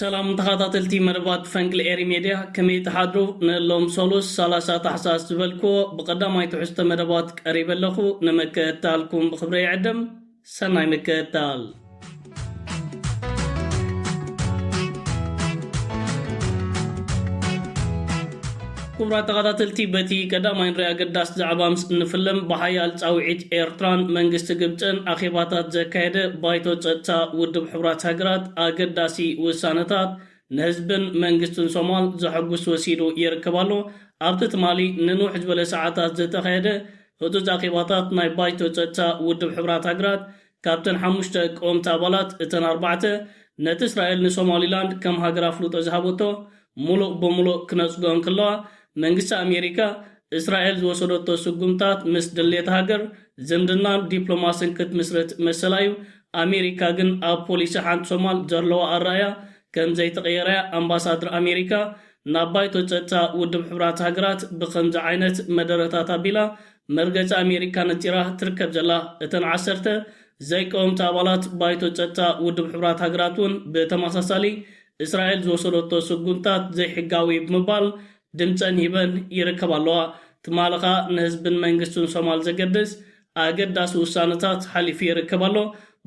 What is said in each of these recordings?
ሰላም ተኻታተልቲ መደባት ፈንቅል ኤሪ ሜድያ ከመይ ትሓድሩ ንሎም ሰሉስ ሰላሳ ታሕሳስ ዝበልክዎ ብቐዳማይ ትሕዝቶ መደባት ቀሪበ ኣለኹ ንምክእታልኩም ብኽብረ ይዕድም ሰናይ ምክእታል ክቡራት ተኸታተልቲ በቲ ቀዳማይን ርእ ኣገዳሲ ዛዕባ ምስ እንፍልም ብሓያል ጻውዒት ኤርትራን መንግስቲ ግብጽን ኣኼባታት ዘካየደ ባይቶ ጸጥታ ውድብ ሕቡራት ሃገራት ኣገዳሲ ውሳነታት ንህዝብን መንግስትን ሶማል ዘሐጉስ ወሲዱ ይርከብ ኣሎ። ኣብቲ ትማሊ ንንውሕ ዝበለ ሰዓታት ዝተኻየደ ህጹጽ ኣኼባታት ናይ ባይቶ ጸጥታ ውድብ ሕቡራት ሃገራት ካብተን ሓሙሽተ ቀወምቲ ኣባላት፣ እተን ኣርባዕተ ነቲ እስራኤል ንሶማሊላንድ ከም ሃገር ኣፍልጦ ዝሃበቶ ምሉእ ብምሉእ ክነጽግኦ እንክለዋ፣ መንግስቲ ኣሜሪካ እስራኤል ዝወሰደቶ ስጉምታት ምስ ድሌት ሃገር ዝምድናን ዲፕሎማስን ክትምስርት መሰላ'ዩ፣ ኣሜሪካ ግን ኣብ ፖሊሲ ሓንቲ ሶማል ዘርለዋ ኣረኣእያ ከም ዘይተቐየረ'ያ ኣምባሳድር ኣሜሪካ ናብ ባይቶ ጸጥታ ውድብ ሕቡራት ሃገራት ብኸምዚ ዓይነት መደረታት ኣቢላ መርገጺ ኣሜሪካ ነጺራ ትርከብ ዘላ እተን ዓሰርተ ዘይቀወምቲ ኣባላት ባይቶ ጸጥታ ውድብ ሕቡራት ሃገራት'ውን ብተመሳሳሊ እስራኤል ዝወሰደቶ ስጉምታት ዘይሕጋዊ'ዩ ብምባል ድምጸን ሂበን ይርከባ ኣለዋ። ትማሊ ከኣ ንህዝብን መንግስትን ሶማል ዘገድስ ኣገዳሲ ውሳነታት ሓሊፉ ይርከብ ኣሎ።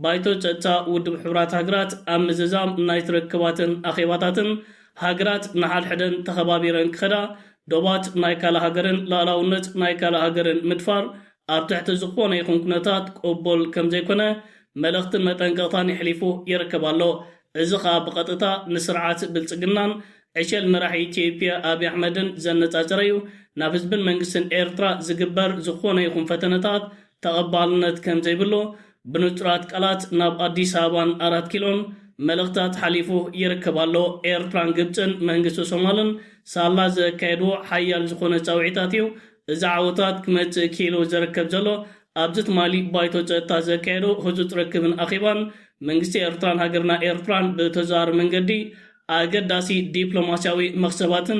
ባይቶ ጸጥታ ውድብ ሕቡራት ሃገራት ኣብ ምዝዛም ናይቲ ርክባትን ኣኼባታትን ሃገራት ንሓድሕደን ተኸባቢረን ክኸዳ ዶባት ናይ ካልእ ሃገርን ልኣላውነት ናይ ካልእ ሃገርን ምድፋር ኣብ ትሕቲ ዝኾነ ይኹን ኩነታት ቅቡል ከምዘይኮነ መልእኽትን መጠንቀቕታን የሕሊፉ ይርከብ ኣሎ። እዚ ከኣ ብቐጥታ ንስርዓት ብልጽግናን ዕሸል መራሒ ኢትዮጵያ ኣብይ ኣሕመድን ዘነጻጸረ'ዩ፣ ናብ ህዝብን መንግስትን ኤርትራ ዝግበር ዝኾነ ይኹን ፈተነታት ተቐባልነት ከምዘይብሉ ብንጹራት ቃላት ናብ ኣዲስ ኣበባን ኣራት ኪሎን መልእኽታት ሓሊፉ ይርከብ ኣሎ። ኤርትራን ግብጽን መንግስቲ ሶማልን ሳላ ዘካየድዎ ሓያል ዝኾነ ጻውዒታት እዩ እዚ ዓወታት ክመጽእ ክኢሉ ዘርከብ ዘሎ። ኣብዚ ትማሊ ባይቶ ጸጥታ ዘካየዶ ህጹጽ ርክብን ኣኼባን መንግስቲ ኤርትራን ሃገርና ኤርትራን ብተዘዋዋሪ መንገዲ ኣገዳሲ ዲፕሎማስያዊ መኽሰባትን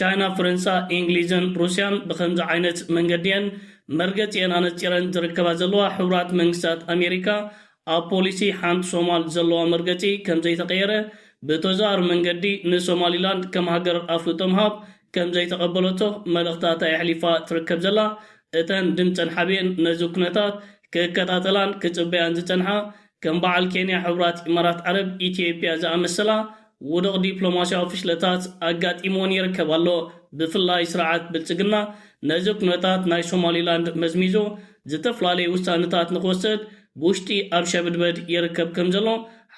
ቻይና፣ ፈረንሳ፣ ኢንግሊዝን ሩስያን ብኸምዚ ዓይነት መንገዲ'የን መርገጺኤን ኣነጺረን ዝርከባ ዘለዋ። ሕቡራት መንግስታት ኣሜሪካ ኣብ ፖሊሲ ሓንቲ ሶማል ዘለዋ መርገጺ ከምዘይተቐየረ ብተዘዋዋሪ መንገዲ ንሶማሊላንድ ከም ሃገር ኣፍልጦ ምሃብ ከምዘይተቐበለቶ መልእኽታታ የሕሊፋ ትርከብ ዘላ። እተን ድምጸን ሓቢኤን ነዚ ኩነታት ክከታተላን ክጽበያን ዝጸንሓ ከም በዓል ኬንያ ሕቡራት ኢማራት ዓረብ ኢትዮጵያ ዝኣመሰላ ውዱቕ ዲፕሎማስያዊ ፍሽለታት ኣጋጢምወን ይርከብ ኣሎ። ብፍላይ ስርዓት ብልጽግና ነዚ ኩነታት ናይ ሶማሊላንድ መዝሚዙ ዝተፍላለዩ ውሳነታት ንክወሰድ ብውሽጢ ኣብ ሸብድበድ ይርከብ ከም ዘሎ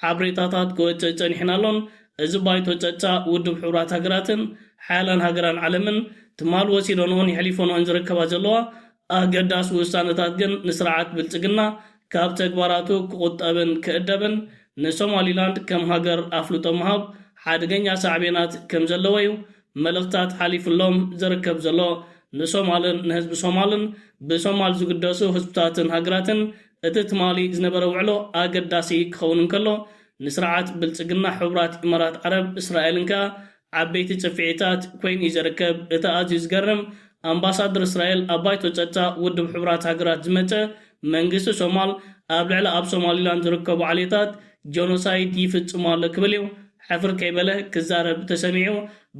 ሓብሬታታት ክወጽእ ጸኒሑን ኣሎን። እዚ ባይቶ ጸጥታ ውድብ ሕቡራት ሃገራትን ሓያላን ሃገራን ዓለምን ትማል ወሲዶንኦን የሕሊፎንኦን ዝርከባ ዘለዋ ኣገዳሲ ውሳነታት ግን ንስርዓት ብልጽግና ካብ ተግባራቱ ክቑጠብን ክእደብን ንሶማሊላንድ ከም ሃገር ኣፍልጦ ምሃብ ሓደገኛ ሳዕቤናት ከም ዘለዎ'ዩ መልእኽትታት ሓሊፉሎም ዝርከብ ዘሎ ንሶማልን ንህዝቢ ሶማልን ብሶማል ዝግደሱ ህዝብታትን ሃገራትን እቲ ትማሊ ዝነበረ ውዕሎ ኣገዳሲ ክኸውን እንከሎ ንስርዓት ብልጽግና ሕቡራት ኢማራት ዓረብ እስራኤልን ከኣ ዓበይቲ ጽፍዒታት ኮይኑ'ዩ ዝርከብ። እቲ ኣዝዩ ዝገርም፣ ኣምባሳደር እስራኤል ኣብ ባይቶ ጸጥታ ውድብ ሕቡራት ሃገራት ዝመጸ፣ መንግስቲ ሶማል ኣብ ልዕሊ ኣብ ሶማሊላንድ ዝርከቡ ዓሌታት ጆኖሳይድ ይፍጽም ኣሎ ክብል'ዩ ሕፍር ከይበለ ክዛረብ ተሰሚዑ።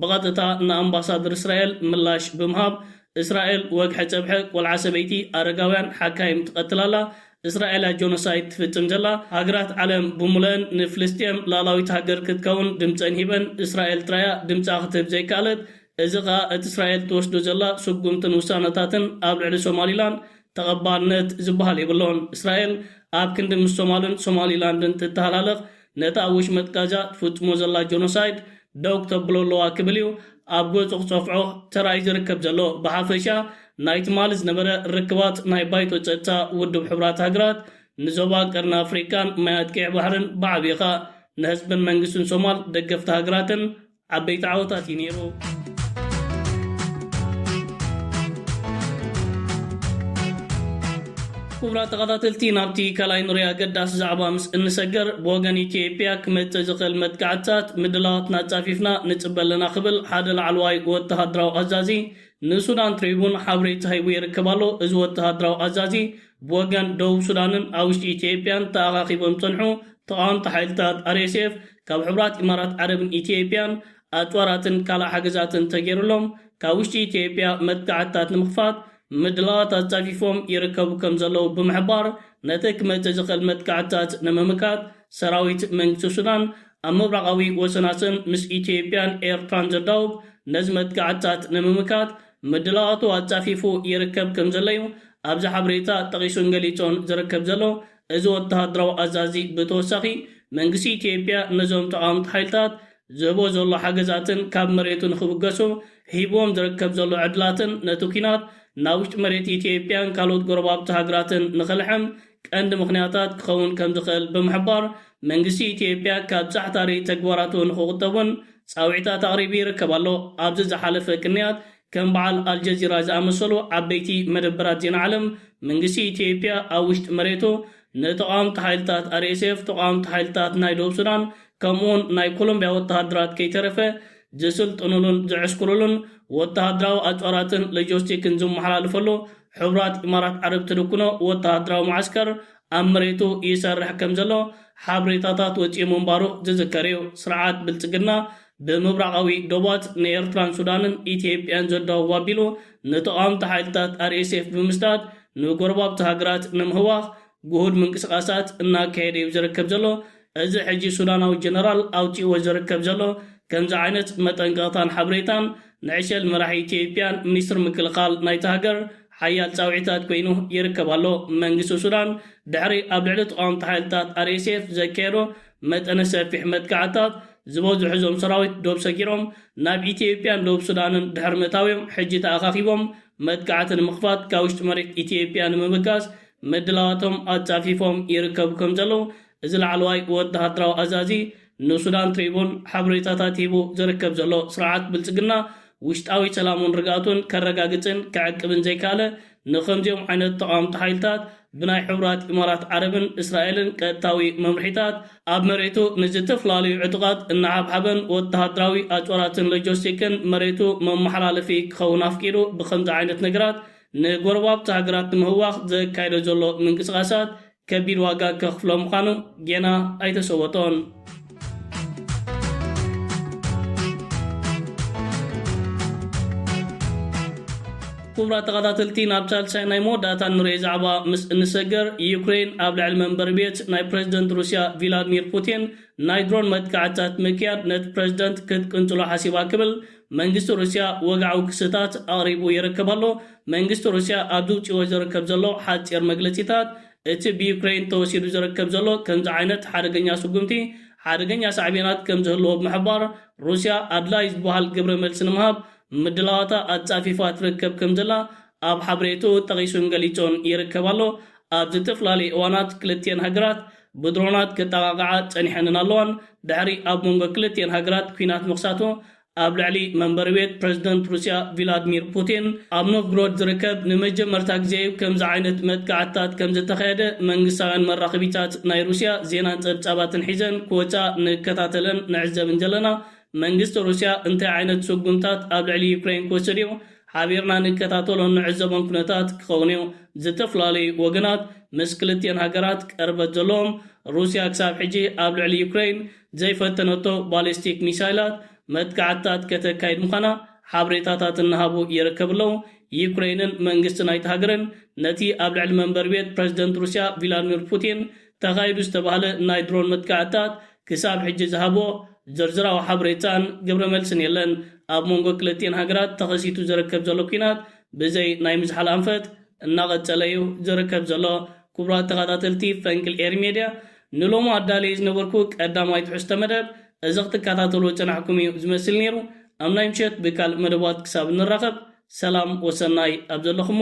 ብቐጥታ ንኣምባሳደር እስራኤል ምላሽ ብምሃብ፣ እስራኤል ወግሐ ጸብሐ ቆልዓ ሰበይቲ ኣረጋውያን ሓካይም ትቐትል ኣላ፣ እስራኤል ኣይ ጆኖሳይድ ትፍጽም ዘላ ሃገራት ዓለም ብሙለእን ንፍልስጤም ላላዊት ሃገር ክትከውን ድምጸን ሂበን እስራኤል ጥራያ ድምጻ ክትህብ ዘይከኣለት እዚ ከኣ እቲ እስራኤል ትወስዶ ዘላ ስጉምትን ውሳነታትን ኣብ ልዕሊ ሶማሊላንድ ተቐባልነት ዝበሃል የብሎን እስራኤል ኣብ ክንዲ ምስ ሶማልን ሶማሊላንድን ትተሃላለኽ ነቲ ኣብ ወሽመጥ ጋዛ ትፍጽሞ ዘላ ጆኖሳይድ ደው ክተብሎ ኣለዋ ክብል እዩ ኣብ ገጹ ክጸፍዖ ተራእዩ ዝርከብ ዘሎ። ብሓፈሻ ናይ ትማሊ ዝነበረ ርክባት ናይ ባይቶ ጸጥታ ውድብ ሕቡራት ሃገራት ንዞባ ቀርኒ ኣፍሪቃን ማያት ቀይሕ ባሕርን ብዓቢኻ ንህዝብን መንግስትን ሶማል ደገፍቲ ሃገራትን ዓበይቲ ዓወታት እዩ ነይሩ። ክቡራት ተኸታተልቲ ናብቲ ካልኣይ ንሪኦ ኣገዳሲ ዛዕባ ምስ እንሰገር ብወገን ኢትዮጵያ ክመጽእ ዝኽእል መጥቃዕትታት ምድላዋትና ኣጻፊፍና ንጽበ ኣለና ክብል ሓደ ላዕለዋይ ወተሃደራዊ ኣዛዚ ንሱዳን ትሪቡን ሓበሬታ ሂቡ ይርከብ ኣሎ። እዚ ወተሃደራዊ ኣዛዚ ብወገን ደቡብ ሱዳንን ኣብ ውሽጢ ኢትዮጵያን ተኣኻኺቦም ዝጸንሑ ተቓወምቲ ሓይልታት RSF ካብ ሕቡራት ኢማራት ዓረብን ኢትዮጵያን ኣጽዋራትን ካልእ ሓገዛትን ተገይሩሎም ካብ ውሽጢ ኢትዮጵያ መጥቃዕትታት ንምኽፋት ምድላዋት ኣጻፊፎም ይርከቡ ከም ዘለዉ ብምሕባር ነቲ ክመጽእ ዝኽእል መጥቃዕትታት ንምምካት ሰራዊት መንግስቲ ሱዳን ኣብ ምብራቓዊ ወሰናስን ምስ ኢትዮጵያን ኤርትራን ዘዳውብ ነዚ መጥቃዕትታት ንምምካት ምድላዋቱ ኣጻፊፉ ይርከብ ከምዘሎ'ዩ ኣብዚ ሓበሬታ ጠቒሱን ገሊጾን ዝርከብ ዘሎ። እዚ ወተሃደራዊ ኣዛዚ ብተወሳኺ፣ መንግስቲ ኢትዮጵያ ነዞም ተቓወምቲ ሓይልታት ዝህቦ ዘሎ ሓገዛትን ካብ መሬቱ ንኽብገሱ ሂብዎም ዝርከብ ዘሎ ዕድላትን ነቲ ኲናት ናብ ውሽጢ መሬት ኢትዮጵያን ካልኦት ጎረባብቲ ሃገራትን ንኽልሕም ቀንዲ ምኽንያታት ክኸውን ከምዝኽእል ብምሕባር፣ መንግስቲ ኢትዮጵያ ካብ ጻዕታሪ ተግባራቱ ንኽቑጠብ'ውን ጻውዒታት ኣቕሪቡ ይርከብ ኣሎ። ኣብዚ ዝሓለፈ ቅንያት፣ ከም በዓል ኣልጀዚራ ዝኣመሰሉ ዓበይቲ መደበራት ዜና ዓለም፣ መንግስቲ ኢትዮጵያ ኣብ ውሽጢ መሬቱ ንተቓወምቲ ሓይልታት RSF፣ ተቓወምቲ ሓይልታት ናይ ደቡብ ሱዳን፣ ከምኡ'ውን ናይ ኮሎምብያ ወተሃደራት ከይተረፈ ዝስልጥኑሉን ዝዕስክሩሉን ወተሃደራዊ ኣጽዋራትን ሎጀስቲክን ዝመሓላልፈሉ ሕቡራት ኢማራት ዓረብ ትድኩኖ ወተሃደራዊ መዓስከር ኣብ መሬቱ ይሰርሕ ከም ዘሎ ሓብሬታታት ወጺኡ ምንባሩ ዝዝከር እዩ። ስርዓት ብልጽግና ብምብራቓዊ ዶባት ንኤርትራን ሱዳንን ኢትዮጵያን ዘዳውብ ኣቢሉ ንተቓወምቲ ሓይልታት RSF ብምስዳድ ንጎረባብቲ ሃገራት ንምህዋኽ ግሁድ ምንቅስቓሳት እናካየደ'ዩ ዝርከብ ዘሎ። እዚ ሕጂ ሱዳናዊ ጀነራል ኣውጺእዎ ዝርከብ ዘሎ ከምዚ ዓይነት መጠንቀቕታን ሓበሬታን ንዕሸል መራሒ ኢትዮጵያን ሚኒስትር ምክልኻል ናይታ ሃገር ሓያል ጻውዒታት ኮይኑ ይርከብ ኣሎ። መንግስቲ ሱዳን ድሕሪ ኣብ ልዕሊ ተቓወምቲ ሓይልታት RSF ዘካየዶ መጠነ ሰፊሕ መጥቃዕትታት ዝበዝሑ እዞም ሰራዊት ዶብ ሰጊሮም ናብ ኢትዮጵያን ደቡብ ሱዳንን ድሕሪ ምእታው'ዮም ሕጂ ተኣኻኺቦም መጥቃዕቲ ንምኽፋት ካብ ውሽጢ መሬት ኢትዮጵያ ንምብጋስ ምድላዋቶም ኣጻፊፎም ይርከቡ ከም ዘለዉ እዚ ላዕለዋይ ወተሃደራዊ ኣዛዚ ንሱዳን ትሪቡን ሓበሬታታት ሂቡ ዝርከብ ዘሎ ስርዓት ብልጽግና ውሽጣዊ ሰላሙን ርግኣቱን ከረጋግጽን ከዕቅብን ዘይከኣለ ንኸምዚኦም ዓይነት ተቓወምቲ ሓይልታት ብናይ ሕቡራት ኢማራት ዓረብን እስራኤልን ቀጥታዊ መምርሒታት ኣብ መሬቱ ንዝተፈላለዩ ዕጡቓት እናሓብሓበን ወተሃደራዊ ኣጽዋራትን ሎጀስቲክን መሬቱ መመሓላለፊ ክኸውን ኣፍቂዱ ብኸምዚ ዓይነት ነገራት ንጎረባብቲ ሃገራት ንምህዋኽ ዘካይዶ ዘሎ ምንቅስቓሳት ከቢድ ዋጋ ከኽፍሎ ምዃኑ ጌና ኣይተሰወጦን። ክቡራት ተኸታተልቲ ናብ ሳልሳይ ናይ መወዳእታ እንርእዮ ዛዕባ ምስ እንሰገር፣ ዩክሬይን ኣብ ልዕሊ መንበሪ ቤት ናይ ፕረዚደንት ሩስያ ቪላድሚር ፑቲን ናይ ድሮን መጥቃዕትታት ምክያድ ነቲ ፕረዚደንት ክትቅንጽሎ ሓሲባ ክብል መንግስቲ ሩስያ ወግዓዊ ክስታት ኣቕሪቡ ይርከብ ኣሎ። መንግስቲ ሩስያ ኣብ ዝውጺዎ ዝርከብ ዘሎ ሓጺር መግለጺታት፣ እቲ ብዩክረይን ተወሲዱ ዝርከብ ዘሎ ከምዚ ዓይነት ሓደገኛ ስጉምቲ ሓደገኛ ሳዕቤናት ከም ዝህልዎ ብምሕባር፣ ሩስያ ኣድላዪ ዝበሃል ግብረ መልሲ ንምሃብ ምድላዋታ ኣጻፊፋ ትርከብ ከም ዘላ ኣብ ሓበሬትኡ ጠቒሱን ገሊጹን ይርከብ ኣሎ። ኣብ ዝተፈላለየ እዋናት ክልቲኤን ሃገራት ብድሮናት ክጠቓቕዓ ጸኒሐንን ኣለዋን። ድሕሪ ኣብ መንጎ ክልቲኤን ሃገራት ኲናት ምኽሳቱ፣ ኣብ ልዕሊ መንበሪ ቤት ፕረዚደንት ሩስያ ቪላድሚር ፑቲን ኣብ ኖቭግሮድ ዝርከብ ንመጀመርታ ግዜ'ዩ ከምዚ ዓይነት መጥቃዕትታት ከምዝተኻየደ መንግስታውያን መራኸቢታት ናይ ሩስያ ዜናን ጸብጻባትን ሒዘን ክወጻ ንከታተልን ንዕዘብን ዘለና። መንግስቲ ሩስያ እንታይ ዓይነት ስጉምታት ኣብ ልዕሊ ዩክረይን ክወስድ'ዩ ሓቢርና ንከታተሎን ንዕዘቦን ኩነታት ክኸውን'ዩ። ዝተፈላለዩ ወገናት ምስ ክልቲኤን ሃገራት ቅርበት ዘለዎም፣ ሩስያ ክሳብ ሕጂ ኣብ ልዕሊ ዩክረይን ዘይፈተነቶ ባሊስቲክ ሚሳይላት መጥቃዕትታት ከተካይድ ምዃና ሓብሬታታት እናሃቡ ይርከብ'ለው። ዩክረይንን መንግስቲ ናይቲ ሃገርን ነቲ ኣብ ልዕሊ መንበሪ ቤት ፕረዚደንት ሩስያ ቪላድሚር ፑቲን ተኻይዱ ዝተባህለ ናይ ድሮን መጥቃዕትታት ክሳብ ሕጂ ዝሃቦ ዝርዝራዊ ሓበሬታን ግብረመልስን የለን። ኣብ መንጎ ክልቲኤን ሃገራት ተኸሲቱ ዝርከብ ዘሎ ኲናት ብዘይ ናይ ምዝሓል ኣንፈት እናቐጸለ'ዩ ዝርከብ ዘሎ። ክቡራት ተኻታተልቲ ፈንቅል ኤሪ ሜድያ ንሎሚ ኣዳልየዮ ዝነበርኩ ቀዳማይ ትሕዝቶ መደብ እዚ ክትካታተልዎ ዝጸናሕኩም'ዩ ዝመስል ኔሩ። ኣብ ናይ ምሸት ብካልእ መደባት ክሳብ እንራኸብ ሰላም ወሰናይ ኣብ ዘለኹሞ።